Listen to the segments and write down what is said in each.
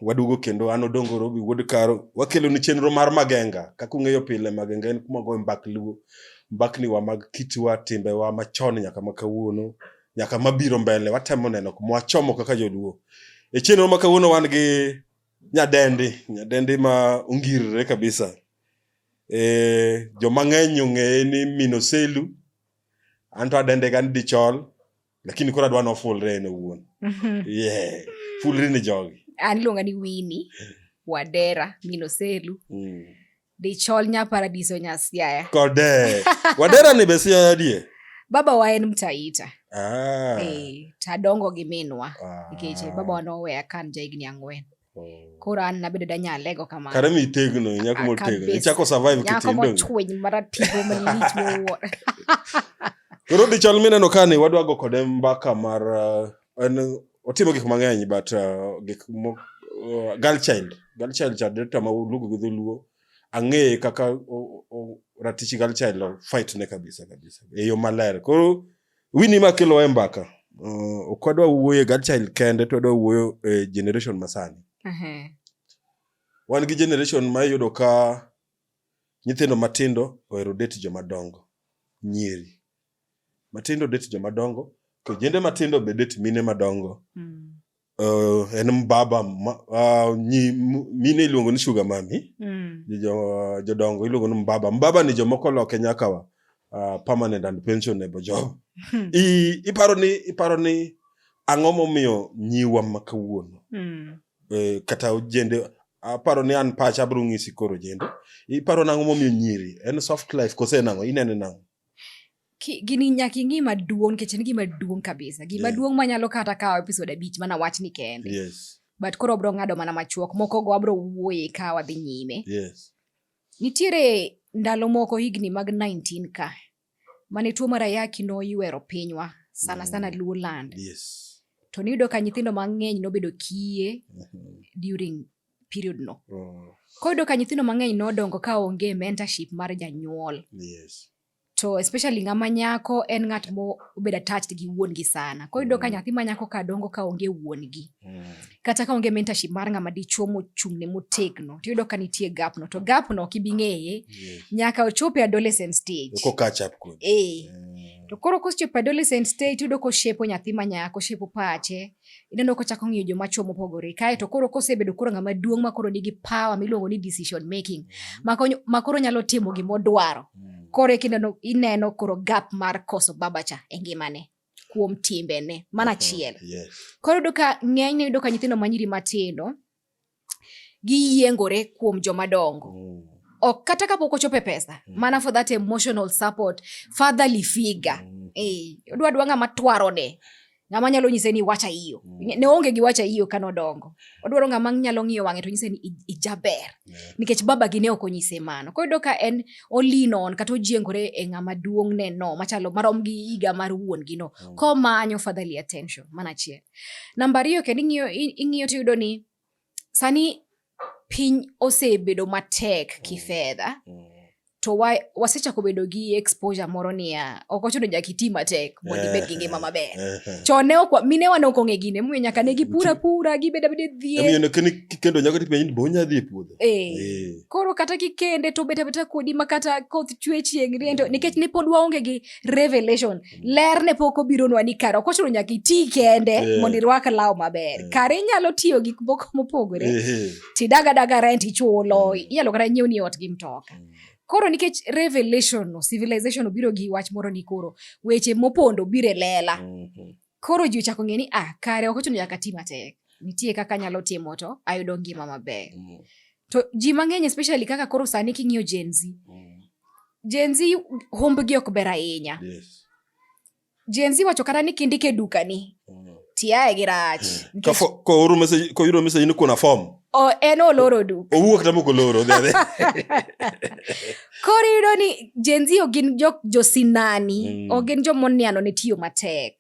waduogo kendo an odongo robi wuod karo wakelo ni chenro mar magenga kaka ung'eyo pile magenga en kuma goyo mbak luo mbakniwa mag kitwa timbewa machon nyaka ma kawuono nyaka mabiro mbele watemo neno kuma wachomo kaka joluo e chenro ma kawuono wan gi nyadendi nyadendi ma ongirre kabisa Eh, joma ng'eny ong'eye ni minoselu anto adende ga ni dichol lakini koro adwa nofulre en owuon mhm. yeah. fulri ni jogi an iluonga ni wini wadera minoselu mm. dichol nya paradiso nya siaya kode wadera ni be siaya die baba wa en mtaita ah. hey, eh, tadongo gi minwa ah. nikech baba wa noweya kan ja higni ang'wen Mm. koro an nabedo da nyalego kamano kare mi tegno nyako Ah, motegno kabisa. ichako survive nyako kitindongi mochwiny maratigo malich miwuoro koro dichal mineno ka ni wadwa go kode mbaka mar uh, en otimo gik mang'eny but uh, gik mo, uh, girl child girl child cha director ma luongo gi dholuo ang'eye kaka o- o- ratich girl child o fight ne kabisa kabisa e yo maler koro Winnie ma kelo e mbaka. Uh, ok wadwa wuoyo e Godchild kende to wadwa wuoyo e generation masani. Uh -huh. Wan gi generation ma iyudo ka nyithindo matindo ohero date joma dongo. Nyiri. Matindo date joma dongo. Kijende matindo be date mine madongo. Mm. Uh, en mbaba ma, uh, nyi, mine iluongo ni sugar mami mm. jo, jodongo iluongo ni mbaba mbaba ni jomoko loke nyakawa uh, permanent and pension nebo job hmm. I, iparo ni iparo ni ang'o momiyo nyiwa ma kawuono mm. uh, kata ojende aparo ni an pacha abro ng'isi koro jende iparo nang'o momiyo nyiri en soft life kose nang'o inene nang'o gini nyaka ing'i maduong' nikech en gima duong' kabisa gima yeah. duong' manyalo kata kawo episode abich mana wach ni kende yes. but koro abro ng'ado mana machuok moko go abro wuoye ka wadhi nyime yes. nitiere ndalo moko higni mag 19 ka mane tuo mar ayaki noywero pinywa sana sana mm. luo land yes. to niyudo ka nyithindo mang'eny nobedo kiye mm -hmm. during period no oh. koyudo ka nyithindo mang'eny nodongo ka onge mentorship mar janyuol yes to especially ng'ama nyako en ng'at mobedo attached gi wuongi sana koro yudo ka mm. nyathi ma nyako ka dongo ka onge wuongi mm. kata ka onge mentorship mar ng'ama dichuo mochung'ne motegno to yudo ka nitie gapno to gapno ok ibi ng'eye nyaka ochope adolescent stage eh. mm. to koro kosechopo adolescent stage yudo koshepo nyathi ma nyako oshepo pache ineno kochako ng'iyo joma chwo mopogore kae to koro kosebedo koro ng'ama duong' ma koro nigi power miluongo ni decision making mm. ma koro nyalo timo gima odwaro mm. koro ineno, ineno koro gap mar koso babacha e ngimane kuom timbene mana achiel yes. koro yudo ka ng'enyne yudo ka nyithindo manyiri matindo giyiengore kuom joma dongo mm. ok kata kapok ochope pesa mm. mana for that emotional support fatherly figure mm. eh, odwa dwa ng'ama twarone ng'ama nyalo nyise ni wacha iyo mm. ne onge gi wacha iyo kano dongo odwaro ng'ama nyalo ng'iyo wang'e to nyise ni ijaber yeah. nikech baba gi ne ok onyise mano koro yudo ka en olinon kata ojiengore e ng'ama duong' ne no machalo marom gi higa mar wuon gi no mm. komanyo fatherly attention mana achiel Namba ariyo kendo ing'iyo ing'iyo tiyudo ni sani piny osebedo matek mm. kifedha mm. to wa, wasechako bedo gi exposure moro niya ok ochuno nyaka iti matek mondo ibed gi ngima maber chon ne ok minewa ne ok ong'e gine momiyo nyaka ne gipura pura gibed abeda dhiekendo nyaka tipenj ni bonya dhi e puodho eh. eh. koro kata kikende to bet abeta kodi ma kata koth chwe chieng' riento mm. nikech ne pod waonge gi revelation ler ne pok obironwa ni kare ok ochuno nyaka iti kende yeah. mondo irwak law maber yeah. kare inyalo tiyo gik moko mopogore yeah. tidagadaga rent ichulo mm. inyalo kata nyiew ni ot gi mtoka mm. koro nikech revelation no civilization obiro gi wach moro ni koro weche mopondo biro e lela mm -hmm. koro ji ochako ng'e ni ah kare ok ochuno nyaka ti matek nitie kaka anyalo timo to ayudo ngima maber mm. to ji mang'eny especially kaka koro sani king'iyo jenzi mm. Jenzi humbgi ok ber ahinya. Yes. Jenzi wacho kata ni kindike dukani. Mm. Tiaye gi rach. Mm. Ka fo, ko oro message, ko yuro message ni kuna form. O en oloro duk. Owuok tamo ko loro dhe dhe. Kori yuro ni Jenzi ogin jo, jo sinani. Mm. Ogin jo moniano ne tiyo matek.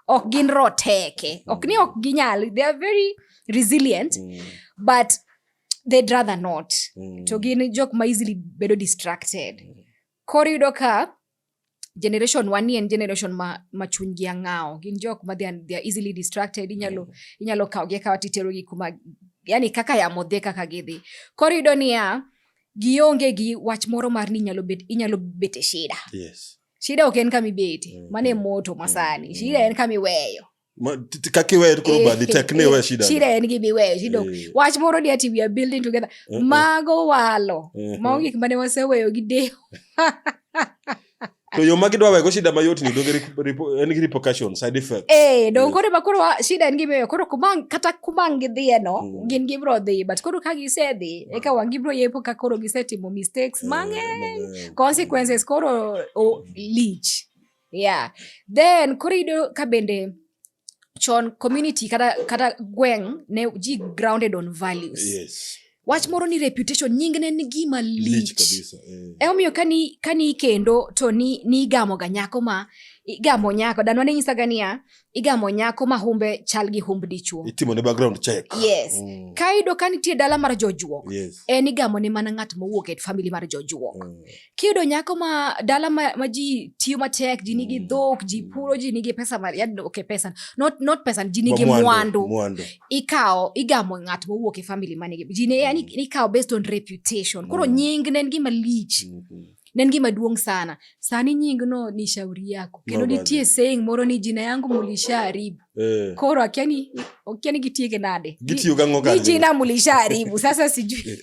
ok gin roteke ok ni ok ginyal they are very resilient mm. but they'd rather not mm. to gin jok ma easily bedo distracted mm. koro yudo ka generation wani en generation ma, ma chunygi ang'awo gin jok ma they are, they are easily distracted inyalo, mm. inyalo kawgi akawa titerogi kuma yani kaka yamo dhe kaka gidhi koro yudo niya gionge gi wach moro mar ni inyalo bet, inyalo bet e shida yes. Shida ok en kama ibete, mm, mano e mm, moto masani. Mm, shida en kama iweyo. Kaka iweyo koro eh, badi tek ne iwe eh, shida. Shida en gima iweyo, shida ok. Eh. Wach moro ni ati we are building together. Mago walo. Mago gik mane waseweyo gi deho. to yo ma gidwa wego shida mayot ni donge en gi repercussion side effect eh don koro ma koro shida en gimiyo koro kumang kata kumang gidhiye no mm. gin gibro dhi but koro ka gisedhi eka wang gibro yepo ka koro gisetimo mistakes eh, mang'eny consequences koro oh, lich yeah then koro iyudo ka bende chon community kata, kata gweng ne ji grounded on values yes. wach moro ni reputation nying ne ni gima lich eh. emomiyo kani, kani kendo to ni, ni igamoga nyako ma igamo nyako danwa ne nyisaga niya igamo nyako ma humbe chal gi humb dichuo. Itimo ne background check. Yes. Mm. Ka iyudo ka nitie dala mar jojuok, yes. en igamo ne mana ng'at mowuok e famili mar jojuok. Mm. Kiyudo nyako ma dala ma, ma ji tiyo matek, ji nigi mm. dhok, ji mm. puro, ji nigi pesa mar, yaani okay, pesa, not, not pesa, ji nigi mwandu. Mwandu. Ikawo, igamo ng'at mowuok e famili manigi. Ji ne, mm. yani, ikawo based on reputation. Koro mm. nying ne en gima lich. Mm -hmm. ne en gima duong' sana sani nyingno ni shauri yako kendo nitie saying moro ni jina yangu mulishaharibu eh. koro akia ni okia ni gitieke nade ni jina mulishaharibu sasa sijui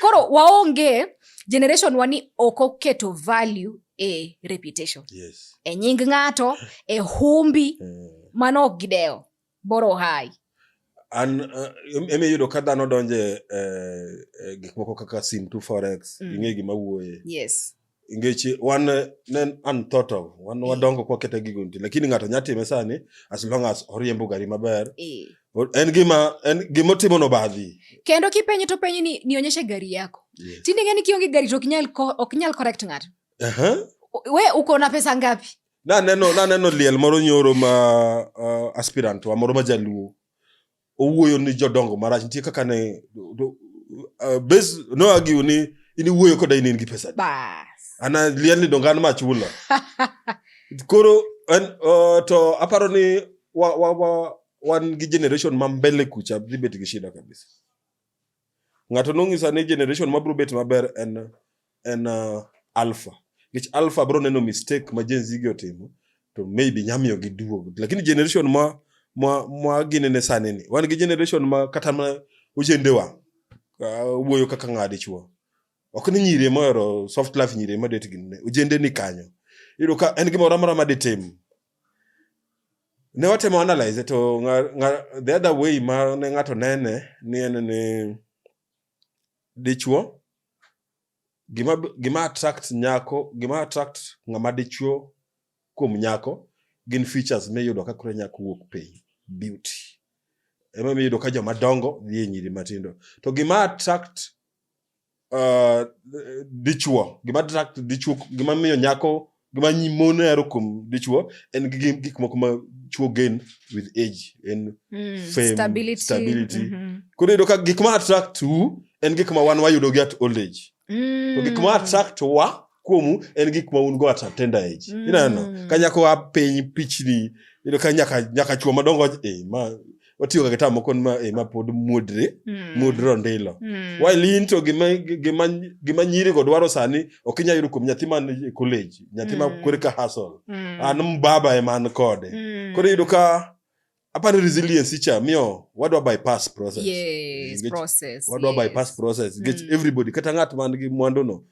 koro waonge generation wani ok oketo value e reputation yes. e nying ng'ato e humbi eh. mano ok gidewo boro hai an uh, emi yudo ka dhano donje eh, eh, gik moko kaka sim to forex mm. ing'e gima wuoye yes ngeche wan ne an thought of wan mm. wadongo kwa kete gigo nti lakini ng'ato nya time sani as long as oriembo gari maber e. en gima en gima timo no badhi kendo kipenyo to penyo ni nionyeshe gari yako yeah. tinde ng'e ni kionge gari to ok nyal ok nyal correct ng'ato uh -huh. we uko na pesa ngapi naneno naneno liel moro nyoro ma uh, aspirant wa moro ma jaluo owuoyo ni jodongo marach nitie kaka ne do- uh, bes noagiu ni in iwuoyo koda in in gi pesa Bas. ana liel ni dongan ma chula koro en, uh, to aparo ni wa, wa, wa, wan gi generation ma mbele kucha dhi bet gi shida kabisa Ng'ato nong'isa ni generation mabiro bet maber en en uh, alpha. Nikech alpha bro neno mistake ma Gen Z gi otimo to maybe nyamiyo gi duogo. Lakini generation ma ma ma ginene sani ni wan gi generation ma kata ma ochende wa uh, wuoyo kaka ng'adi chuo. Ok ni nyiri ma ero soft life nyiri ma det gin ne ojende ni kanyo. Iro ka en gimoro amora ma ditim ne watemo analyze to nga, nga, the other way ma ne ng'ato nene ni en ni dichuo gima gima attract nyako gima attract ng'ama dichuo kuom nyako gin features miyudo ka koro nyako wuok piny beauty ema miyudo ka joma dongo dhi e nyiri matindo to gima attract uh, dichuo gima attract dichuo gima miyo nyako gima nyi mon hero kuom dichuo en gi- gi- gik moko ma chuo gain with age en Mm, Fame, stability. stability. Mhm. koro iyudo ka gik ma attract u en gik ma wan wayudo gi at old age to gik ma Mm. attract wa kuomu en gik ma un go at a tender age mm. ineno ka nyako a piny pichni ino ka nyaka nyaka chuo madongo eh, ma watiyo ga gitamo kon ma eh, ma pod mudre mm. mudro ndilo mm. while into gima gima gima nyiri go dwaro sani ok inya yudo kuom nyathi man e college nyathi ma mm. kore ka hustle mm. an mbaba e man kode mm. kore yudo ka apani resilience cha miyo wadwa bypass process yes, process wadwa yes. bypass process mm. get everybody kata ng'at man gi mwandu no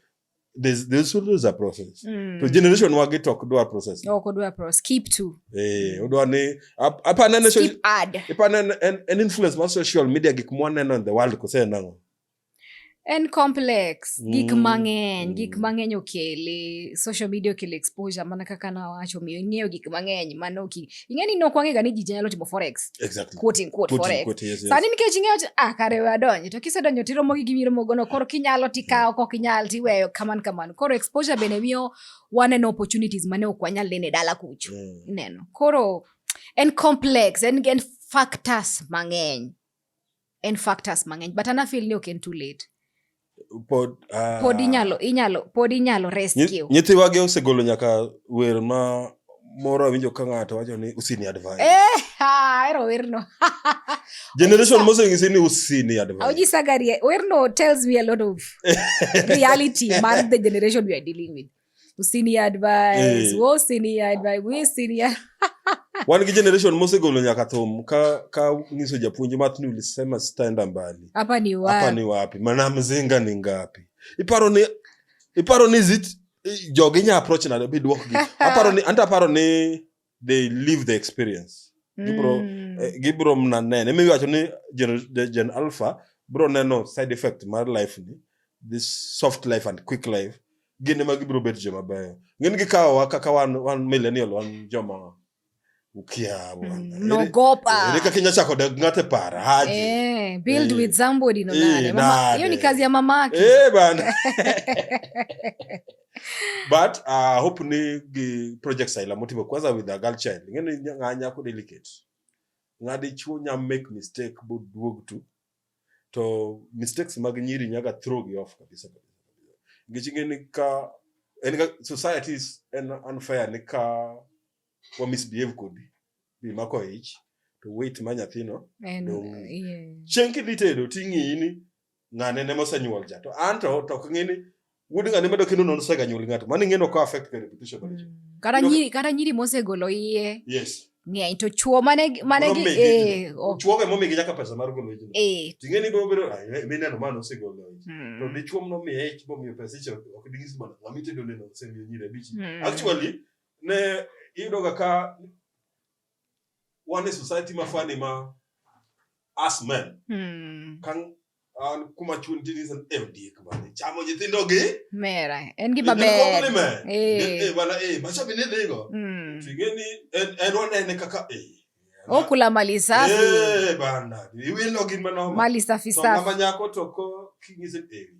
there's there's always a process mm. to generation wage to ok dwar process no ok dwar process keep to eh odwa ni apa nene so keep add apa nene an influence on social media gik mwaneno in the world ko se nango en complex mm. gik mang'eny mm. gik mang'eny okele social media okele exposure mana kaka nawacho miyo ing'eyo gik mang'eny mano ing'e ni nok wang'ega ni ji nyalo timo forex exactly. quote in quote, quote forex quote, yes, yes. sani nikech ing'eyo ni ah kare we adonji to kisedonjo tiromo gi gimiro mogono koro kinyalo tikawo kok inyal tiweyo kaman kaman koro exposure bende miyo waneno opportunities mane ok wanyal neno e dala kucho mm. ineno koro en complex en, en factors mang'eny en factors mang'eny but ana feel ni ok en too late pod ah. pod inyalo inyalo pod inyalo rescue nyithiwage osegolo nyaka wer ma moro awinjo ka ng'ato wacho ni usini advise eh ha ero werno generation moseng'isi ni usini advise aujisagarie werno tells me a lot of reality mar the generation we are dealing with usini advise eh. wo usini advise wi usini wan gi generation mosegolo nyaka thum ka ka ngiso japuonj math ni ulisema sitaenda mbali hapa ni wapi hapa ni wapi mana mzinga ni ngapi iparo ni iparo ni zit jogi nya approach na be dwok gi aparo ni anta aparo ni they live the experience gibro Mm. eh, gibro mna nene mi wacho ni gen, the gen alpha bro neno side effect mar life ni this soft life and quick life gin ema gibro bet joma beyo ngin gikawowa kaka wan, wan millennial wan joma ukia bwana Mm, Ere- nogopa ere kaka inya chako dak ng'ate para haji Eh, build Eh. with somebody no Eh, nane. Mama- hiyo ni nane. kazi ya mamake Eh, bana but uh, hope ni gi project saila motimo kwanza with a girl child ing'e ni ng'a nyako delicate ng'a dichuo nya make mistake boduog tu to mistakes mag nyiri nyaga throw gi off kabisa kabisa nikech ing'e ni ka en ka society is en unfair ni ka wa misbehave kodi bi mako ich to wait ma nyathino And, dong' yeah. chieng' kidhi tedo ting'iyi ni ng'ane ne mosenyuol ja to an to to ok ng'e ni wuod ng'ane medo kendo non sega nyuol ng'ato mano ing'e no ko affect the reputation mar ji mm. kata nyiri kata nyiri mosegolo iye yes ng'eny to chuo mane mane gi eh oh. chuo ga momi gi nyaka pesa mar golo ji eh ting'e ni bro bro mi neno mano osegolo ji mm. to ni chuo mno mi eh chuo mi pesa icho ok dingi sima na mi tedo neno semi nyire bichi mm. actually ne iyudo ga ka wane society ma fani ma us men hmm. kan an kuma chun tini san e diek bane chamo nyithindo gi mera en gi maber eh bana eh macha bine dhigo tingeni en en wanene kaka eh okula mali safi eh bana iwilo gin manoma mali safi safi mama nyako toko kingise eh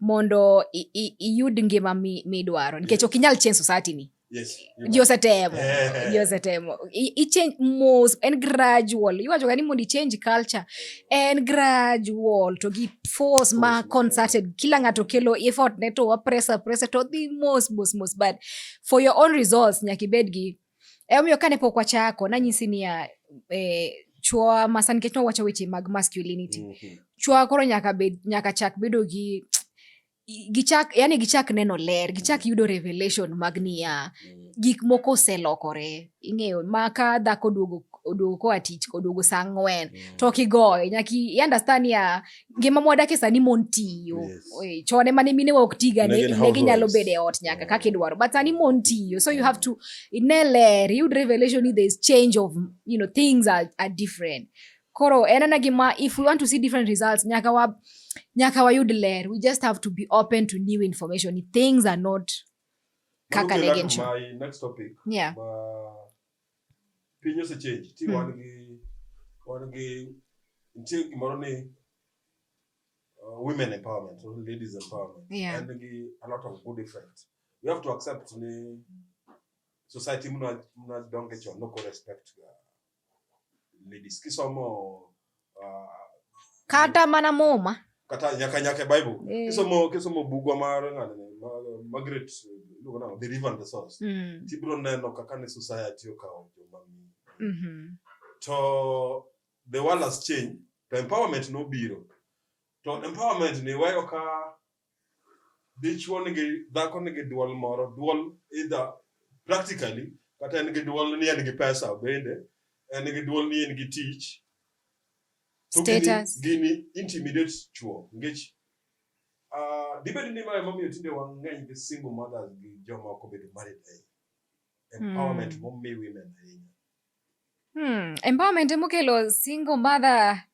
mondo iyud ngima midwaro nikech ok inyal change society ni ji osetemo ji osetemo ichange mos en gradual iwachoga ni mondo ichange culture en gradual to gi force ma concerted kila ng'ato kelo effort ne to wapresa presa to dhi mos mos mos but for your own results nyaka ibed gi E omiyo kane pok wachako nanyisi niya eh, chwowa masa nikech nowacho weche mag masculinity mm -hmm. chwowa koro nyaka, bed, nyaka chak bedo gi gichak yani gichak neno ler gichak yudo revelation mag niya mm. gik moko oselokore ing'eyo ma ka dhako oduogo oduogo koa tich oduogo saa ang'wen mm. to kigoye nyaki understand ya ngima mwadakie sani mon tiyo yes. chone mane mine wa ok tiga ne ginyalo bedo e ot nyaka yeah. kaka idwaro but sani mon tiyo so you have to ne ler yud revelation ni there's change of you know things are, are different koro en ena gima if we want to see different results nyaka wa nyaka wayud ler we just have to be open to new information things are not kaka negencho yeah. piny osechenji ti wan gi wan gi nitie gimoro ni uh, women empowerment or ladies empowerment Yeah. and gi a lot of good effect you have to accept ni society mna mna donge chon no respect ga ladies kisomo kata mana muma kata nyaka nyaka bible eh. kisomo kisomo bugwa mar ng'ane magret iluongo nang'o the river and the source mm. tibiro neno kaka ne society okawo joma mm-hmm. to the world has changed to empowerment nobiro to empowerment ni wayo ka dichwo nigi dhako nigi duol moro duol either practically kata en gi duol ni en gi pesa bende en gi duol ni en gi tich status gini intimidate chuo ngech uh, ah, dibed ni mae momiyo tinde wang'eny gi single mothers gi joma ok obedo married ahinya empowerment hmm. momi women ahinya hmm. empowerment emokelo single mother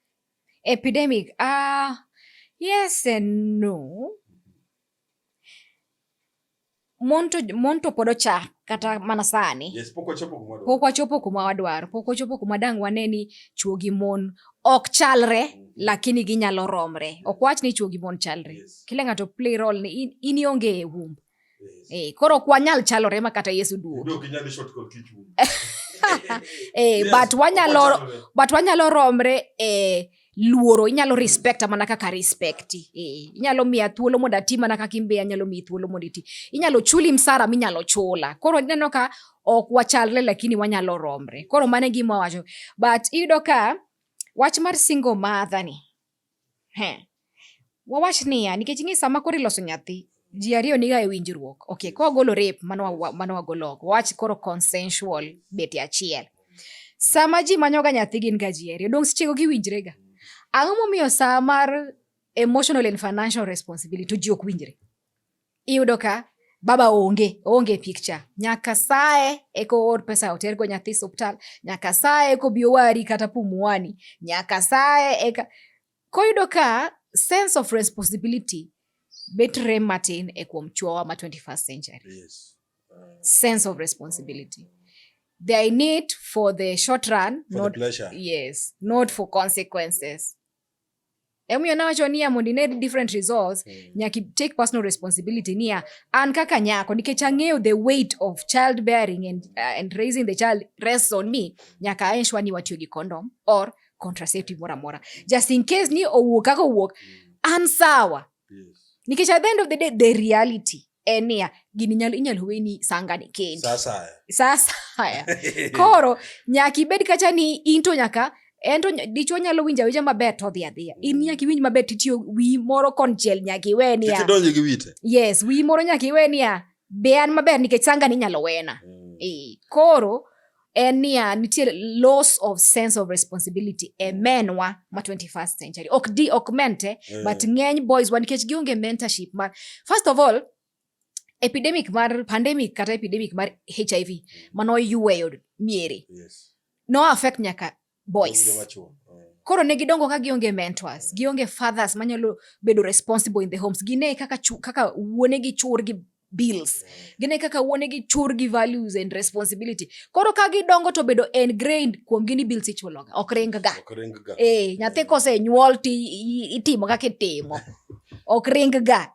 Epidemic. Uh, yes and no. Monto, monto pod ochak kata mana sani yes, pok wachopo kuma wadwaro pok wachopo kuma dang' wane ni chwo gi mon ok chalre mm -hmm. lakini ginyalo romre yes. ok wach ni chwo gi mon chalre yes. kila ng'ato play role ni in, in ionge e wumb Eh, koro ok wanyal chalore ma kata Yesu duogo. Eh, but wanyalo but wanyalo romre eh, luoro inyalo respect mana kaka respect eh, inyalo miya thuolo mondo ati mana kaka imbe anyalo miyi thuolo mondo iti inyalo chuli msara minyalo chula koro ineno ka ok wachalre lakini wanyalo romre koro mane gima wacho but iyudo ka wach mar single mother ni Wawach niya, nikech ing'e sama koro iloso nyathi, ji ariyo niga e winjruok. Ok, ka wagolo rape, mano wagolo oko. Wawach koro consensual beti achiel. Sama ji manyoga nyathi gin ga ji ariyo, donge sechego giwinjrega. Ang'o momiyo sa mar emotional and financial responsibility to ji ok winjre? Iyudo ka baba onge onge picture nyaka saye eko or pesa otergo nyathi suptal nyaka saye eko bi owari kata pumuani nyaka saye eka koyudo ka sense of responsibility bet rem matin e kuom chuowa ma 21st century yes. uh, sense of responsibility uh, they are in it for the short run for not the pleasure. yes not for consequences emomiyo nawacho niya mondo ine different results mm. nyaka take personal responsibility niya an kaka nyako nikech ang'eyo the weight of child bearing and, uh, and raising the child rests on me nyaka aensure ni watiyo gi condom or contraceptive moro amora just in case ni owuok kaka owuok mm. an sawa yes. nikech at the end of the day the reality en niya gini nyalo inyalo weni sangani kendi sasa haya koro nyaka ibed kacha ni into nyaka en to dichwo nyalo winjo awinja maber to odhi adhiya mm. in nyaka iwinj maber titiyo wi moro konchiel nyaka iwe niya yes wi moro nyaka iwe niya be an maber nikech sangani inyalo wena mm. e, koro en niya nitie loss of sense of responsibility e mm. men wa ma 21st century ok di ok men te yeah. but ng'eny boys wa nikech gionge mentorship mar first of all epidemic mar pandemic kata epidemic mar hiv mm. mano oyweyo miere yes. no affect nyaka boys. Koro ne gidongo ka gionge mentors, gionge fathers manyalo bedo responsible in the homes. Gine kaka chu, kaka wuone gi chur gi bills. Gine kaka wuone gi chur gi values and responsibility. Koro ka gidongo to bedo ingrained kuom gini bills ichuloga. Ok ring ga. Ok ring ga. Eh, nyathi kose nyuol ti itimo kaka itimo. Ok ring ga.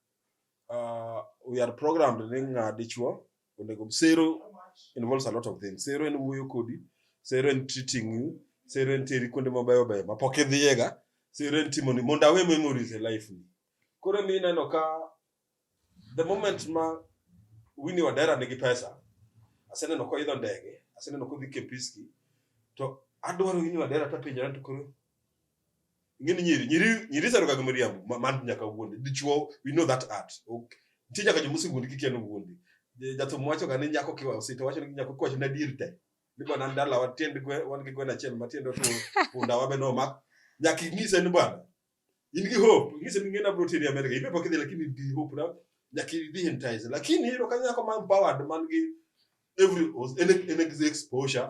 uh, we are programmed ni ng'a dichuo onego sero involves a lot of things sero en wuoyo kodi sero en treating you sero en teri kuonde mabeyo beyo ma pok idhiyega sero en timoni mondo awe memories e life ni koro mi ineno ka the moment ma Winnie Wadera nigi pesa aseneno koidho ndege aseneno kodhi Kempiski to adwaro Winnie Wadera tapenjora to koro ingeni nyiri nyiri nyiri sero kaka miriambo ma- man nyaka wuonde dichuo we know that art ok nitie nyaka joma osewuondi kikia ni wuondi Je- jathum wacho ga ni nyako kiwa osita wacho ni nyako kiwacho ni adier te ni bwana an dala wan tiend gwe wan gi gweno achiel ma tiende otur punda wabe nomak nyaka ing'ise ni bwana in gi hope ing'ise ni ng'ena bro tiri Amerika ibe pok idhi lakini in gi hope na nyaka idhi entice lakini iyudo ka nyako man powered man gi every en en exposure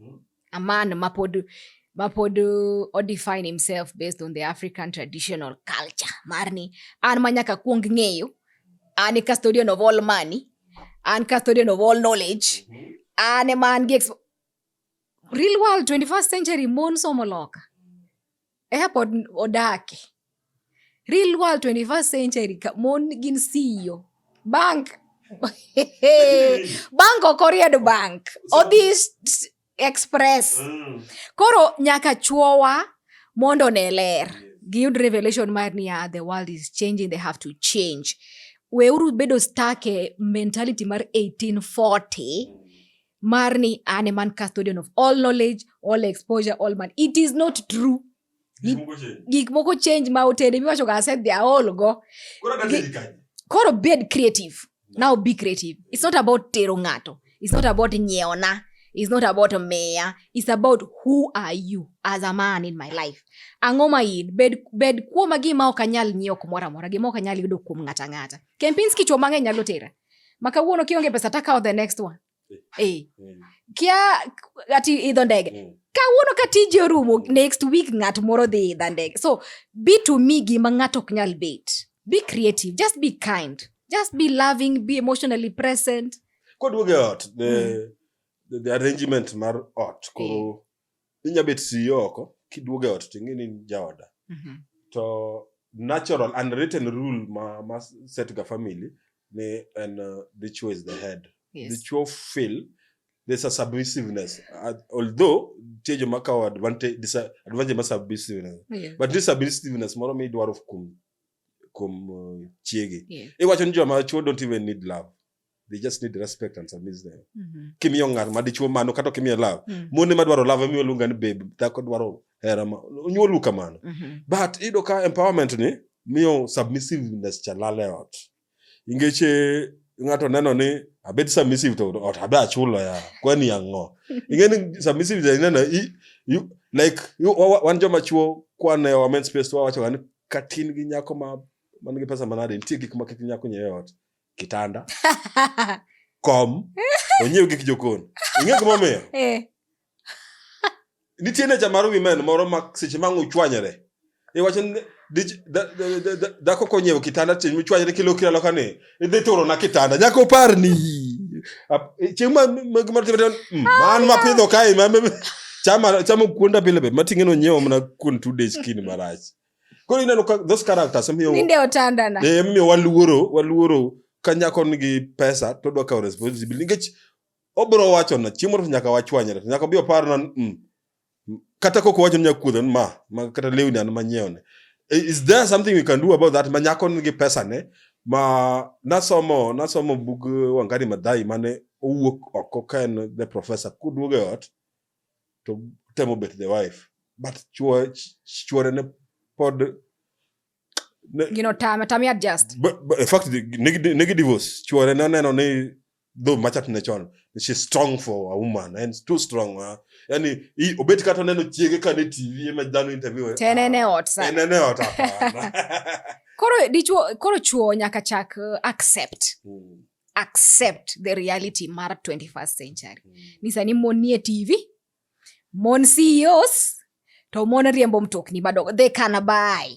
Mm-hmm. A man mapod mapod uh, o define himself based on the African traditional culture marni an manyaka kuong ng'eyo an e custodian of all money an custodian of all knowledge mm-hmm. an e man gi real world 21st century mon somo loka Eka pod odake. Real world 21st century ka mon gin CEO. Bank. bank ok oriedo bank. Odhi express. Mm. Koro nyaka chuowa mondo ne ler. Giyud revelation mar niya the world is changing they have to change. Weuru bedo stuck e mentality mar 1840 marni an eman custodian of all knowledge all exposure all man it is not true Gik moko change. gik moko change ma otede miwacho ga said they are all go Koro kata Gi- ni kanye? koro bed creative now be creative it's not about tero ng'ato it's not about nyeona it's not about meya it's about who are you as a man in my life ang'o ma in bed, bed kuoma gima ok anyal nyiewo kumoro amora gima ok anyal yudo kuom ng'ato ang'ata kempinski chuo mang'eny nyalo tera ma kawuono kionge pesa takawo the next one eh. eh. kia ati idho ndege mm. kawuono ka tiji orumo next week ng'at moro dhi idha ndege so be to me gima ng'ato ok nyal bet be creative just be kind just be loving be emotionally present kodwoge ot the, mm. the, the arrangement mar ot koro eh. inya bet CEO oko kiduogo e ot to ing'e ni in jaoda Mhm. to natural unwritten rule ma, ma set ga family ni en uh, dichwo is the head Yes. dichwo feel there's a submissiveness uh, although tie joma kawo advantage disa- advantage ma submissiveness Yeah. but this submissiveness moro mi idwaro kuom kuom uh, chiegi Yeah. iwacho ni joma chwo don't even need love they just need respect and submit them Mhm. kimiyo ng'at ma dichuo mano kata ok imiye love Mm. mon ema dwaro love emiyo luonga ni babe dhako dwaro hera ma onyuolu kamano Mhm. but iyudo ka empowerment ni miyo submissiveness cha lal e ot ingech eh, ng'ato neno ni abed submissive to ot abe achulo ya kwani ang'o ing'e ni submissive cha ineno i- you- like you- wa- wa- wan joma chuo kwane wa men space to wawachoga ni katin gi nyako ma man gi pesa manade nitie gik ma kik nyako nyiewe ot kitanda kom onyiew gik jokon ing'e gimomiyo eh. nitie necha mar wimen moro ma seche ma uchwanyore iwacho ni dhako konyiewo kitanda chieng' michwanyore kilokri aloka ni idhi turona kitanda nyaka oparni chieng' mm, man mapidho kae chama kuonda pile be mating'e nonyiewo mana kuon two days kini marach Koro ineno ka those characters miyo ninde otandana. Eh miyo waluoro waluoro ka nyako nigi pesa to dwa kawo responsibility nikech obro wacho na chiemo to nyaka wachwanyre nyaka bi opar na mm, kata koko wacho nyaka kuodho ma, ma kata lewni an manyiewo ne eh, is there something we can do about that ma nyako nigi pesa ne ma nasomo nasomo bug eh, Wangari Maathai mane owuok oko ka en the professor kuduogo e ot to temo bet the wife but chwo ch- chwore ne pod ne, Gino tame, tame adjust. but, but in fact negi negi divorce chwore ne neno ni though machat ne chon she's strong for a woman and too strong uh, yani i- obet kata oneno chiege ka ne tv ema dhano interview eh, Tene ne ah, ot sa. tene ne ot hapana Koro dichwo, koro chwo nyaka chak uh, accept. Mm. accept the reality mar 21st century mm. ni sani mon nie tv mon ceos to mon riembo mtokni madongo they can buy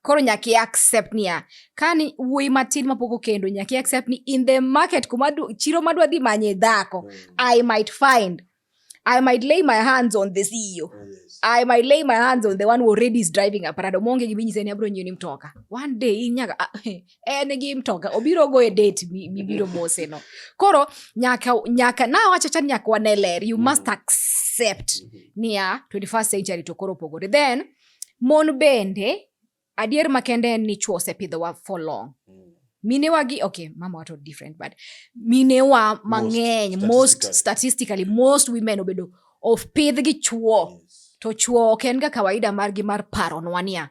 koro nyaki accept niya kani wuoyi matin mapok okendo nyaki accept ni in the market kuma chiro madwa dhi manye dhako mm. i might find I might lay my hands on the CEO. Oh, yes. I might lay my hands on the one who already is driving a parado. Monge gibi nyise ni abro nyini mtoka. One day in nyaga ah, eh, eh ne gi mtoka. Obiro go e date mi biro mose no. Koro nyaka nyaka na wacha chan nyaka waneler. You mm. must accept mm -hmm. niya 21st century to koro pogore. Then mon bende Adier makende en ni chwo osepidhowa for long. Mm. Minewa gi okay, mama wato different but minewa mang'eny most statistically most women obedo of pidh gi chwo. Yes. To chwo ok en ga kawaida margi mar paro nwa niya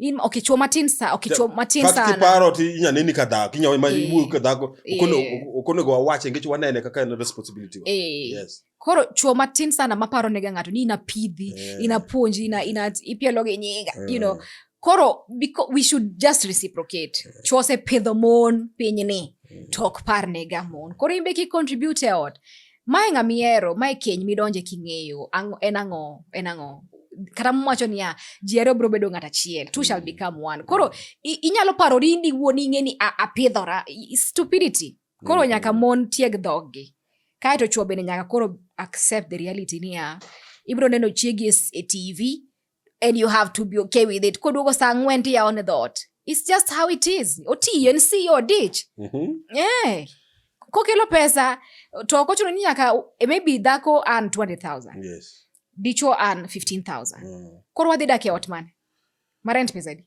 in okay chwo matin sa okay chwo matin sana kaka paro ti inya nini ka dhako inya ma ibu ka dhako okono okono go wache ngecho wanene kaka en responsibility eh. yes koro chuo matin sana maparo nega ng'ato ni inapidhi yeah. inapuonji ina, ina ipielo gi nyinga yeah. you know eh. koro because we should just reciprocate yeah. Eh. chuo osepidho mon piny ni mm. to ok par nega mon koro imbe ki contribute e ot mae ng'amihero mae keny midonje king'eyo en ang'o en ang'o kata mwacho niya ji ariyo biro bedo ng'at achiel two shall mm. become one koro inyalo parori indiwuon ing'e ni apidhora stupidity koro nyaka mon tieg dhoggi kae to chwo bende nyaka koro accept the reality niya ibiro neno chiegi e, e tv and you have to be okay with it koduogo sa ang'wen tiyawo ne dhoot it's just how it is otiyo en si odich mm -hmm. yeah. kokelo pesa to ok ochuno ni nyaka e maybe dhako an 20000 yes. dichwo an 15000 mm. koro wadhi dak e ot mane marent pesadi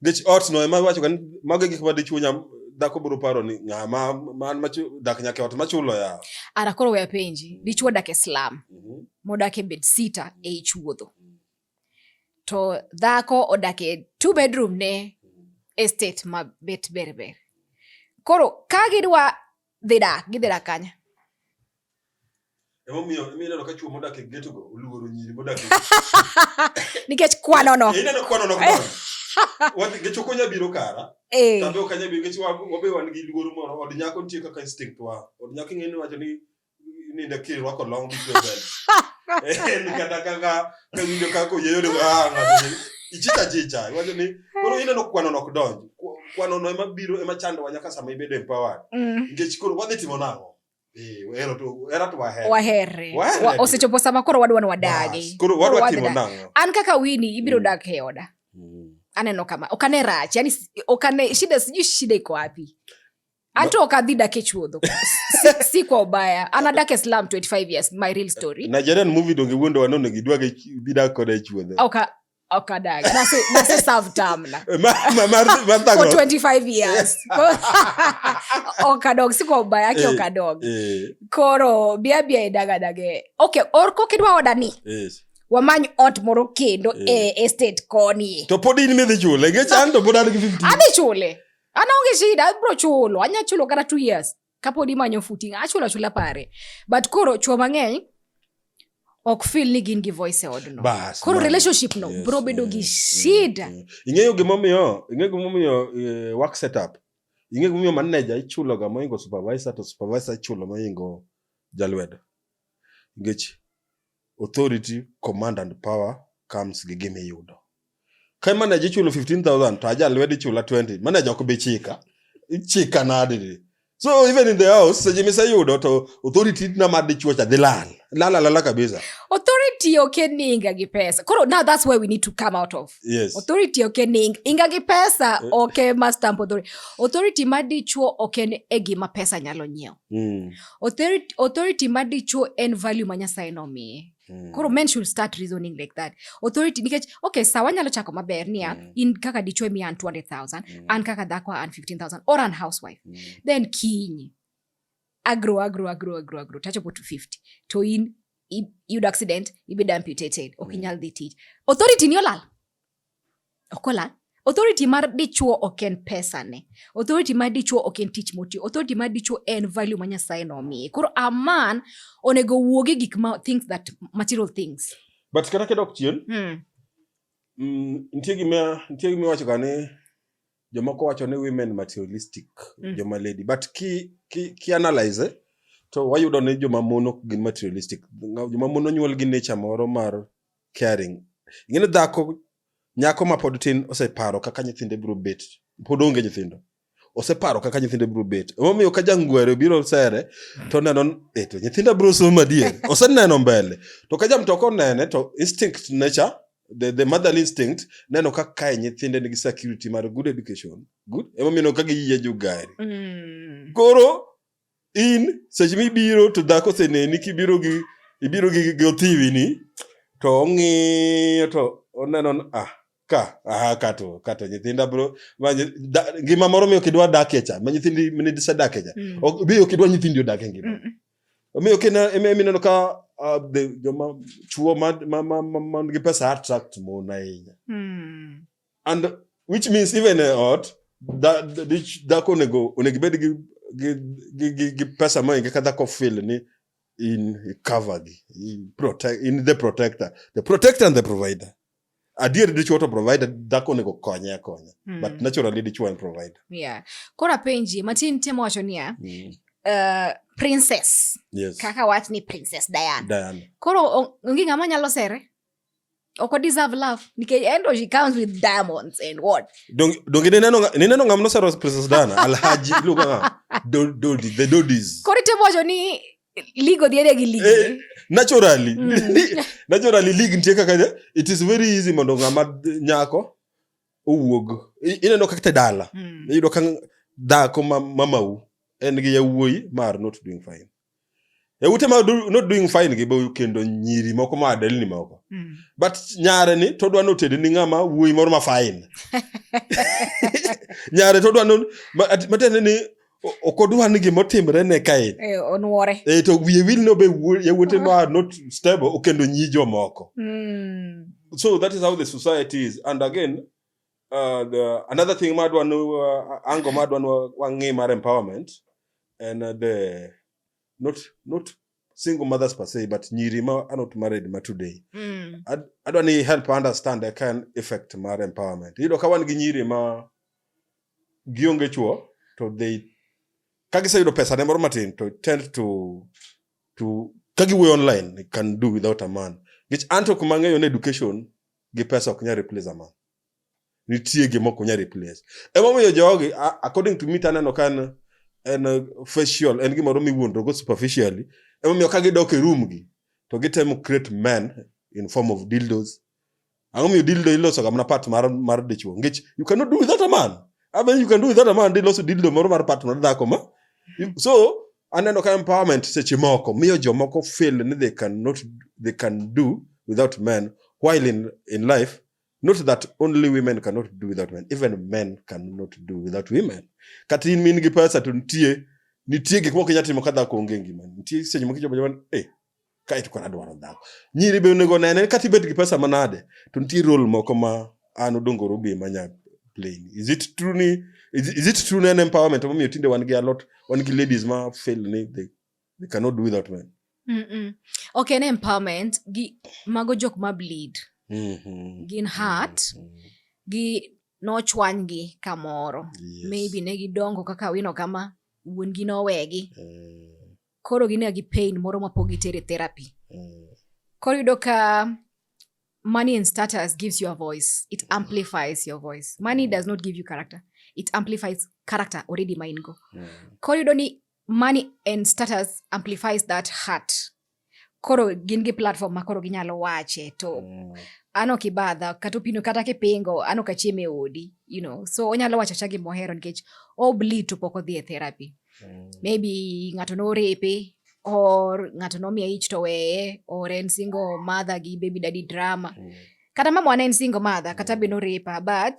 Nikech otno ema iwachoga ni mago e gik ma dichwo nya dhako biro paro ni ng'a ma man ma chu- dak nyaka e ot machulo yawa. ara koro we apenji dichwo odak e slum Mhm. modak e bed sita e ich wuodho to dhako odak e two bedroom ne estate ma bet berber koro ka gidwa dhidak gidhidak kanya nikech kwanono gechoka onya biro kara eh. tabe ok anya biro nikech wabe wan gi luoro moro od nyako nitie kaka instinct wa od nyako ing'eni wacho ni ninde kirwako long belt eh, kata kaka Kawinjo kako yeyo ni ah ng'ato ni ichicha chicha. Iwacho ni koro ineno kwano nok donj. Kwa- Kwano no ema biro ema chandowa nyaka sama ibedo empowered. Mm. Nikech koro wadhi timo nang'o? Eh, wahero to era to wahero. wahere Wahere. Wa- osechopo sama koro wadwa ni Bas, wadagi Koro wadwa wadhi timo dak. nang'o? an kaka wini ibiro Mm. dak e oda Mm. aneno kama okane rach yani s- okane shida sijui shida iko wapi hata ukadhi dake chuodho si, si kwa ubaya anadake slam 25 years my real story nigerian movie donge wuondo wanono gidwage bidak koda chuodhe okay okadag nase nase serve term na for 25 years okadog si kwa ubaya ake eh, okadog eh. koro bia bia idagadage okay or kokidwa oda ni yes wamany ot moro kendo eh. e estate koni to pod in midhi chule ngech an to pod an gi 50 adhi chule ana onge shida abiro chulo anya chulo kata two years kapod imanyo futi achulo achula pare but koro chuo mang'eny ok fil ni gin gi voice e odno koro relationship no yes, bro bedo gi shida ing'eyo gimomiyo ing'eyo gimomiyo eh, work setup ing'eyo gimomiyo manager ichulo ga moingo supervisor to supervisor ichulo moingo jalwedo nikech Authority, command and power comes gi gima iyudo. Ka manager ichulo 15000 to aja lwedo ichula 20, manager ok bi chika. Ichika nadi? So even in the house seche miseyudo to authority na ma dichuocha dhi lal. Lal lala kabisa. Authority okay ni inga gi pesa. Koro now that's where we need to come out of. Yes. Authority okay ni inga gi pesa eh. okay ma stamp authority. Authority ma dichuo okay ni e gima pesa nyalo nyiewo. mm. authority, authority ma dichuo en value ma nyasaye nomiye mm. koro men should start reasoning like that authority nikech okay sa wanyalo chako maber niya mm. in kaka dichuo miya an 200000 mm. an kaka dhako an 15000 or an housewife mm. then kinyi agro agro agro agro agro tachopo to 50 to in iyudo accident ibedo amputated ok mm. inyal dhi tich authority ni olal Okola, authority mar dichuo ok en pesa ne. Authority mar dichuo ok en tich moti. Authority mar dichuo en value ma Nyasaye nomiye. Koro a man onego wuogi gik ma things that material things. But kata kedok chien, mm. Mm, nitie gima nitie gima iwacho ga ni jomoko wacho ni women materialistic mm. joma lady but ki ki, ki analyze eh, to wayudo ni joma mon ok gin materialistic joma mon onyuol gi nature moro mar caring. Ing'eyo dhako nyako ma pod tin oseparo kaka nyithinde biro bet, pod onge nyithindo. Oseparo kaka nyithinde biro bet. Emomiyo ka jangwere biro sere to neno eto nyithinda biro somo adier. Oseneno mbele. To ka jamtoko nene to instinct nature the, the motherly instinct neno ka kae nyithinde nigi security mar good education. Good. Emomiyo ka giyie jugari. Mm. Koro in seche mibiro to dhako oseneni kibiro gi ibiro gi gi othiwi ni to ong'iyo to oneno ni, ah ka ah ka to ka to nyithinda bro ma nyi- da- ngima moro miyo kidwa dakie cha ma nyithindi mine disedakie cha Mm. Ok- bi ok idwa nyithindi odak e ngima Mm. omiyo kina ema ema ineno ka ah, the- joma chuo man ma- ma- ma- man gi pesa attract mon ahinya Mm. and which means even a ot dhako onego onego ibed gi gi gi gi gi pesa ma inge kadhako feel ni in cover gi in protect in the protector the protector and the provider adier dichuo to provider dhako onego konye akonya mm. but naturally dichuo and provider yeah koro apenji matin temo wacho niya mm. uh, princess yes. kaka wach ni princess diana, diana. koro onge ng'ama nyalo sere oko deserve love nikeenda she comes with diamonds and what donge donge nineno ngam nosero princess dana alhaji iluongo ngam dodi the dodis koro itemo wacho ni league odhi ade gi league eh, naturally mm. naturally league nitie kaka it is very easy mondo ng'ama nyako owuog ineno kaka te dala mm. iyudo ka dhako mamau en gi yawuoyi mar not doing fine e ute ma not doing fine gi boyu kendo nyiri moko ma adelni moko mm. but nyare ni to dwa notede ni ng'ama wuoyi moro ma fine nyare to dwa matiende ni ok odwa ni gima otimre ne kae eh, onwore e to wiye wil no be yawuote ma ah. not stable okendo nyi jomoko mm. so that is how the society is and again Uh, the, another thing madwa nu uh, ango madwa nu wang'i mar empowerment and uh, the not not single mothers per se but nyiri ma are not married ma today mm. Ad, adwa ni help understand the kind effect mar empowerment iyudo ka wan gi nyiri ma gionge chuo to they ka giseyudo pesa ne moro matin to tend to to ka giwuoyo online can do without a man nikech anto kuma ng'eyo ni education gi pesa ok nyal replace a man nitie gima ok onyal replace emomiyo jogi according to me taneno ka en en facial en gimoro miwuondrogo superficially emomiyo ka gidok e room gi to gitemo create men in form of dildos ang'o miyo dildo iloso ga mana part mar mar dichwo ngich you cannot do without a man I mean, you can do without a man diloso dildo moro mar part mar dhako ma so aneno ka empowerment seche moko miyo jomoko feel ni they cannot they can do without men while in, in life not that only women cannot do without men even men cannot do without women kata in min gi pesa to nitie nitie gik moko inya timo ka dhako onge ngima nitie seche moko ichopo jaman e eh, kae to kora dwaro dhako nyiri be onego nene kata ibed gi pesa manade to nitie rol moko ma an odongoro be manya plain is it true ni is, is it true ni en empowerment momiyo tinde wan gi alot wan gi ladies ma fail ni they they cannot do without men mm -mm. okay ne empowerment gi mago jok ma bleed mm -hmm. gin heart mm -hmm. gi nochwanygi kamoro yes. maybe ne gidongo kaka wino kama wuon gi nowegi mm. koro gine gi pain moro ma pok gitere therapy mm. koro yudo ka money and status gives you a voice it mm. amplifies your voice money mm. does not give you character it amplifies character already ma in go mm. koro yudo ni money and status amplifies that heart koro gin gi platform ma koro ginyalo wache to mm. ano kibadha kata opino kata kipingo ano kachieme odi you know so onyalo wacho cha gimohero nikech obli to pok odhi e therapy mm. maybe ng'ato norepe or ng'ato nomiye ich to weye or en single mother gi baby daddy drama mm. kata mama wana en single mother kata mm. be norepa but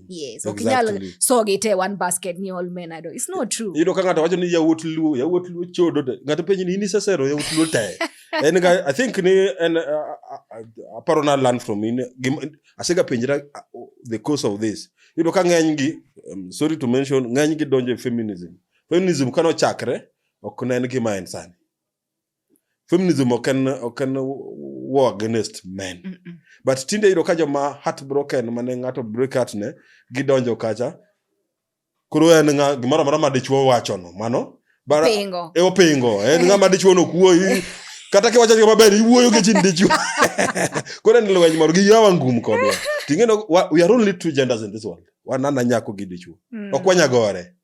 yes ok nyal Exactly. so gite one basket ni all men ado it's not true iyudo ka ng'ato wacho ni yawuot luo yawuot luo chodo te ng'ato penji ni in isesero yawuot luo te en ga i think ni en uh, uh, aparo na learn from in gima- asega penjra uh, the cause of this iyudo ka ng'eny gi um, sorry to mention ng'eny gi donjo e feminism feminism kano chakre ok ne en gima en sani feminism ok en ok en war against men mm -mm. but tinde yudo ka joma heartbroken mane ng'ato break heart ne gidonjo kacha koro en ng'a gimoro amora ma dichwo wachono mano bara e opingo en ng'a ma dichwo no kuoyi kata kiwacho yo maber iwuoyo gi chin dichwo koro en lweny moro gi yawa ngum kodwa ting'eno we are only two genders in this world wanana nyako gi dichwo mm. ok wanyagore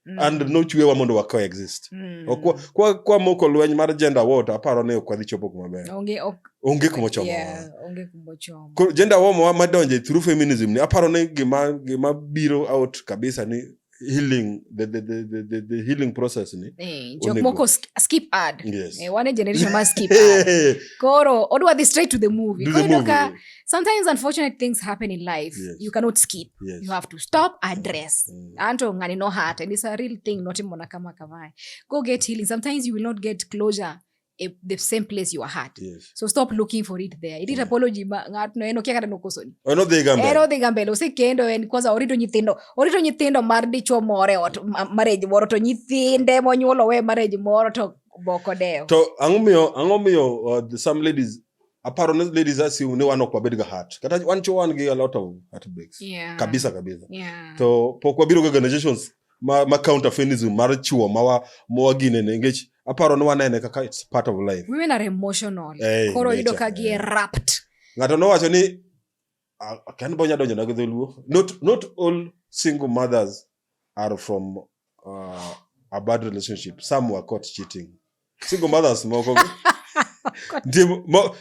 Mm. and nochwewa mondo wa coexist mm. kwa, kwa, moko lweny mar gender war aparo ni ok wadhi chopo kuma ber onge ok, onge kuma chomo yeah, onge kuma chomo ko gender war ma madonje through feminism ni aparo ni gima gima biro out kabisa ni healing the, the, the, the, the healing process ni eh, jok moko skip ad yes. eh, one generation ma skip ad koro odwa dhi straight to the movie koro ka sometimes unfortunate things happen in life yes. you cannot skip yes. you have to stop address mm. anto ngani no heart and it's a real thing not mbona kama kamae go get healing sometimes you will not get closure eh, the same place you are hurt yes. so stop looking for it there it yeah. apology ngat no eno kiakata nokosoni ono dhi gambe eno dhi gambe lo sekendo en kwanza orito nyithindo orito nyithindo mar dichwo more ot marriage moro to nyithinde monyuolo we marriage moro to boko dewo to ang'o miyo ang'o miyo uh, some ladies aparo ni ladies assume ni wan ok wabed ga heart kata wan cho wan gi a lot of heartbreaks yeah. kabisa kabisa yeah. to pok wabiro ga organizations ma, ma counter feminism mar chuo ma wa ma gine ne ngech aparo ni wanene kaka it's part of life women are emotional hey, koro yudo ka gi yeah. wrapped ngato nowacho ni Ah, ok, an be onyalo donjona gi dholuo not, not all single mothers are from uh, a bad relationship some were caught cheating single mothers moko nitie mo-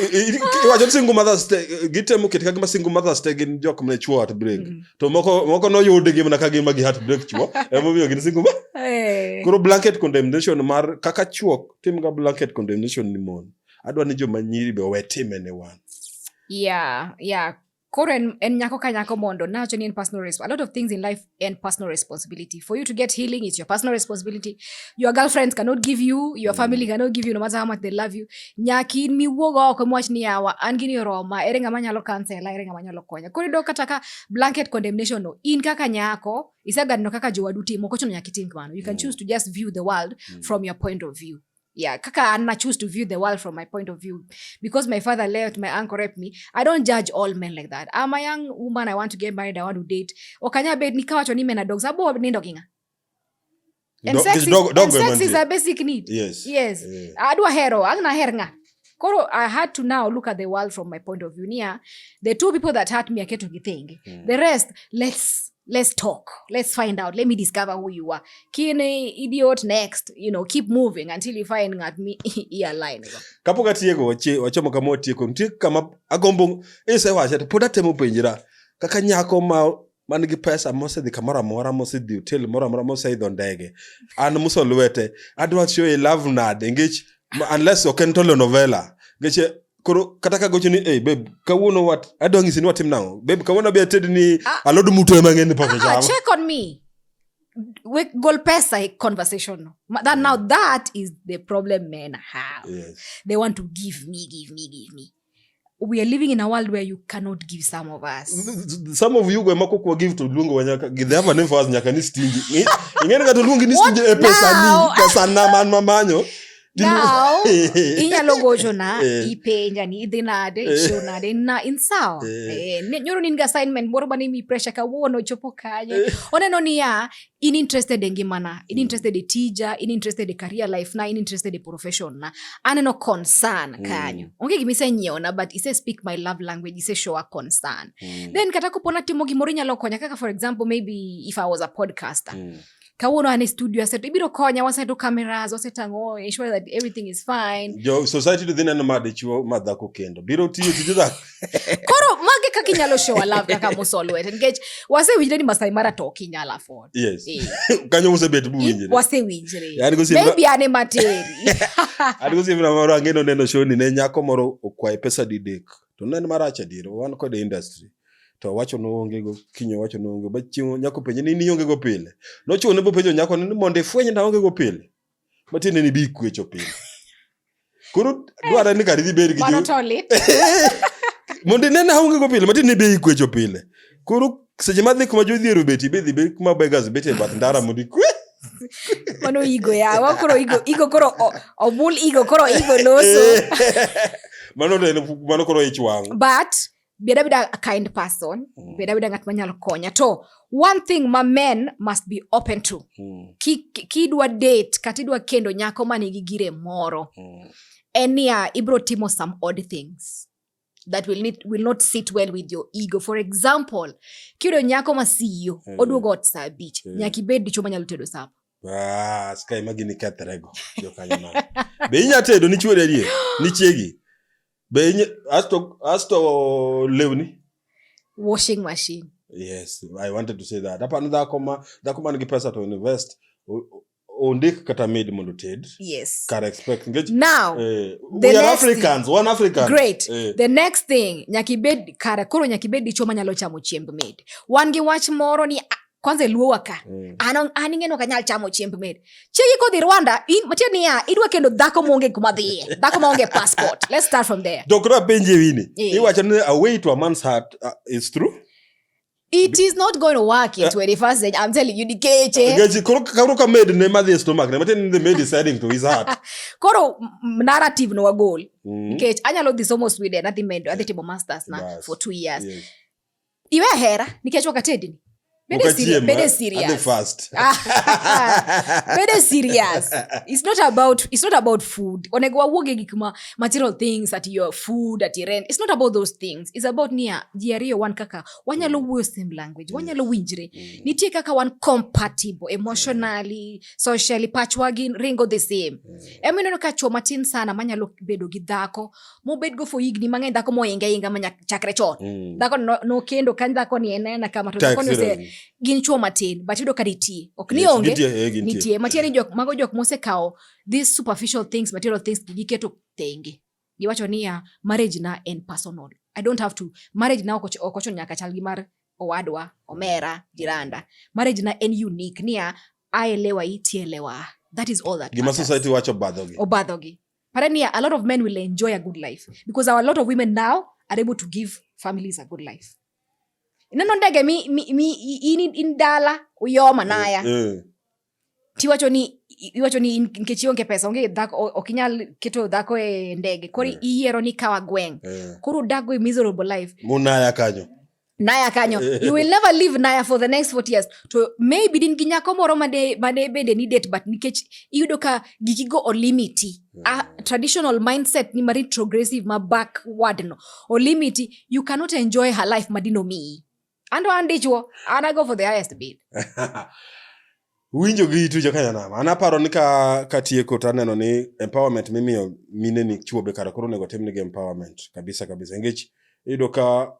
i- i- iwacho ni single mothers te gitemo keto kagima single mothers te gin jok mane chuo heartbreak Mhm. to moko moko noyudgi mana kagima gi heartbreak chuo emomiyo gin single mo- Eh. koro blanket condemnation mar kaka chuo timga blanket condemnation ni mon adwa ni joma nyiri be owe time ne wan yeah yeah koro en, en nyako ka nyako mondo nawacho ni en personal resp- a lot of things in life en personal responsibility for you to get healing it's your personal responsibility your girlfriends cannot give you your family cannot give you no matter how much they love you nyaki in miwuog oko miwach ni yawa an gini oroma ere ng'ama nyalo kansela ere ng'ama nyalo konya koro iyudo kata ka blanket condemnation no in kaka nyako iseganino kaka jowadu timo ok ochuno nyaka itim kamano you can Mm. choose to just view the world Mm. from your point of view yeah kaka ana choose to view the world from my point of view because my father left my uncle raped me i don't judge all men like that i'm a young woman i want to get married i want to date okanya bed nikawacho ni men are dogs abo nindo kinga and sex, is, and sex is a basic need yes yes yeah. adwa hero agna her nga Koro I had to now look at the world from my point of view. Nia, the two people that hurt me aketo githenge. Mm. The rest, let's let's talk. Let's find out. Let me discover who you are. Kine idiot next. You know, keep moving until you find at me ia line. Kapo katieko wache wachomo kama otieko. Ntie kama agombo. Ese wache. Poda temo penjira. Kaka nyako ma man gi pesa mosedhi kamoro amora mosedhi hotel moro amora moseidho ndege an muso lwete adwa show e love nade ngech unless ok en telenovela ngech koro kata ka gocho ni hey, babe kawuono wat adwa ng'isi ni watim nang'o babe kawuono be ated ni ah. alod muto ema ng'e ni pok ah, ah, check on me we gol pesa e conversation no that now that is the problem men have yes. they want to give me give me give me we are living in a world where you cannot give some of us some of you go mako kwa give to lungu wanyaka give them a name for us nyaka ni stingi ingene ka to lungu ni stingi e pesa ni pesa na man mamanyo now inyalo gocho na eh. ipenja ni idhi nade eh. ichiw nade na in sawa eh. nyoro nin ga assignment moro mane mi pressure kawuono chopo kanye oneno niya in interested e ngimana in mm. interested e tija in interested e career life na in interested e profession na aneno concern mm. kanyo onge gima isenyiewona but ise speak my love language ise show a concern mm. then kata kopo natimo gimoro inyalo konya kaka for example maybe if i was a podcaster mm kawuono an e studio aseto ibiro konya waseto cameras wasetang'o ensure that everything is fine jo society to dhi neno ma dichuo ma dhako kendo biro tiyo tije dhako koro mage kaka inyalo show love kaka musolwete nikech wasewinjre ni masai mara to ok inyal afford yes Eh. kanyo musebet buwinjre wasewinjre Yaani gosiem na- maybe an ema teri an gosiepna moro ang'e noneno shoni ne nyako moro okwaye pesa didek to ne en marach adier wan kode industry to owacho noongego kinyo owacho noonge ba chieng' nyako penje ni niongego pile nochune bopenjo nyako ni mondo ifweny naongego pile matiende ni bi kwecho piny koro eh, dwarre ni kar idhi bed gi mondo inene aonge go pile matiende ni be ikwecho pile koro seche ma dhi kuma jodhiero beti be dhi be kuma begas beti e bath ndara mondo ikwe mano igo yawa koro igo igo koro obul igo koro igo loso eh, mano mano koro ich wang but Be da bida a kind person. Mm. Be da bida ngat manyalo konya. To one thing ma men must be open to. Mm. Ki ki dwa date kata idwa kendo nyako ma nigi gire moro. Mm. En niya ibro timo some odd things that will need, will not sit well with your ego. For example, kiyudo nyako ma CEO mm. oduogo ot saa abich. Mm. Nyaka ibed dichwo manyalo tedo sapa. Ah, ska imagi ni kethre go. Jokanyo ma. Be inya tedo ni chwori ariye? Ni chiegi. Be inye asto asto lewni. Washing machine. Yes, I wanted to say that. Hapa ni dhako ma dhako man gi pesa to invest. Ondik kata maid mondo ted. Yes. Can expect. Engage. Now, eh, we are Africans, thing, one African. Great. Eh. The next thing, nyakibed kara koro nyakibed dicho manyalo chamo chiemb maid. Wan gi wach moro ni kwanza eluo waka mm. an an ing'eno kanyal chamo chiemb med chiegi kodhi rwanda matie niya idwa kendo dhako maonge kuma dhiye dhako maonge passport let's start from there dokra penje wini yeah. iwacho ni a way to a man's heart uh, is true It is not going to work in 21st century. I'm telling you, dikeche. Gaji, koro karo ka maid ne madhi stomach ne, matin the maid is heading to his heart. Koro narrative no wagol. Mm. Nikech anyalo dhi somo Sweden, adhi medo, adhi timo masters na yes. for two years. Yes. iwe hera nikech wakatedini Bede Ukachiema, serious. Bede at the serious. first. Bede serious. It's not about it's not about food. Onego wawuog e gik ma material things at your food at your rent. It's not about those things. It's about nia ji ariyo wan kaka wanyalo wuoyo same language. Wanyalo winjre. Nitie kaka wan compatible emotionally, socially, pachwa gin ringo the same. Ema ineno ka chwo matin sana manyalo bedo gi dhako mobed go for higni mang'eny dhako moinga inga ma chakre chon mm. dhako nokendo no kany dhako ni en ena kama to dhako ni ose gin chuo matin but yudo ka nitie ok ni onge eh, nitie matie ni jok mago jok mosekawo these superficial things material things giketo thenge giwacho niya marriage na en personal i don't have to marriage na ok ocho nyaka chal gi mar owadwa omera jiranda marriage na en unique niya aelewa itielewa that is all that gima society wacho obadhogi obadhogi But then, yeah, a lot of men will enjoy a good life because our, a lot of women now are able to give families a good life. Neno ndege mi, mi, mi ini indala uyoma naya. Mm. Eh, eh. Tiwacho ni iwacho ni nikech ionge pesa onge dhako ok inyal keto dhako e ndege koro mm. iyiero ni kawa gweng. Mm. Koro dago e miserable life. Munaya kanyo. naya kanyo you will never leave naya for the next 40 years to maybe din gi nyako moro made made bede ni date but nikech iyudo ka giki go olimiti mm. a traditional mindset ni mari progressive ma backward no olimiti you cannot enjoy her life madino mi ando andichwo and i go for the highest bid winjo gi itu joka nyanam an aparo ni ka katieko to aneno ni empowerment mimiyo mine ni chuo be kara koro onego tim nigi empowerment kabisa kabisa nikech iyudo ka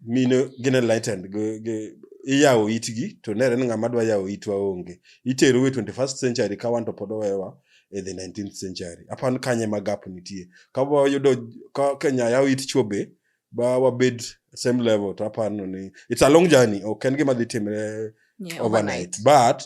mine gin enlightened gi- gi- iyawo itgi to nere ni ng'ama dwa yawo itwa onge itero e 21st century ka wan to pod owewa e the 19th century aparo ni kanye ma gap nitie ka wayudo ka kenya yawo it chuo be ba wabed at same level to apano ni it's a long journey ok en gima dhi timre Yeah, overnight but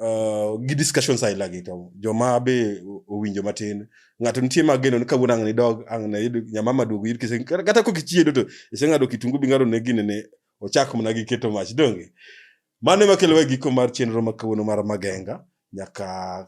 uh, gi discussions aila gi to joma be o- owinjo matin ng'ato nitie mageno ni kawuono ang' nidog ang' nayud nyamama duogo yud kise kata kata kok ichiedo to iseng'ado kitungu bing'ado ne gine ne ochak mana gi keto mach donge mano ema kelowa e giko mar chenro ma kawuono mar magenga nyaka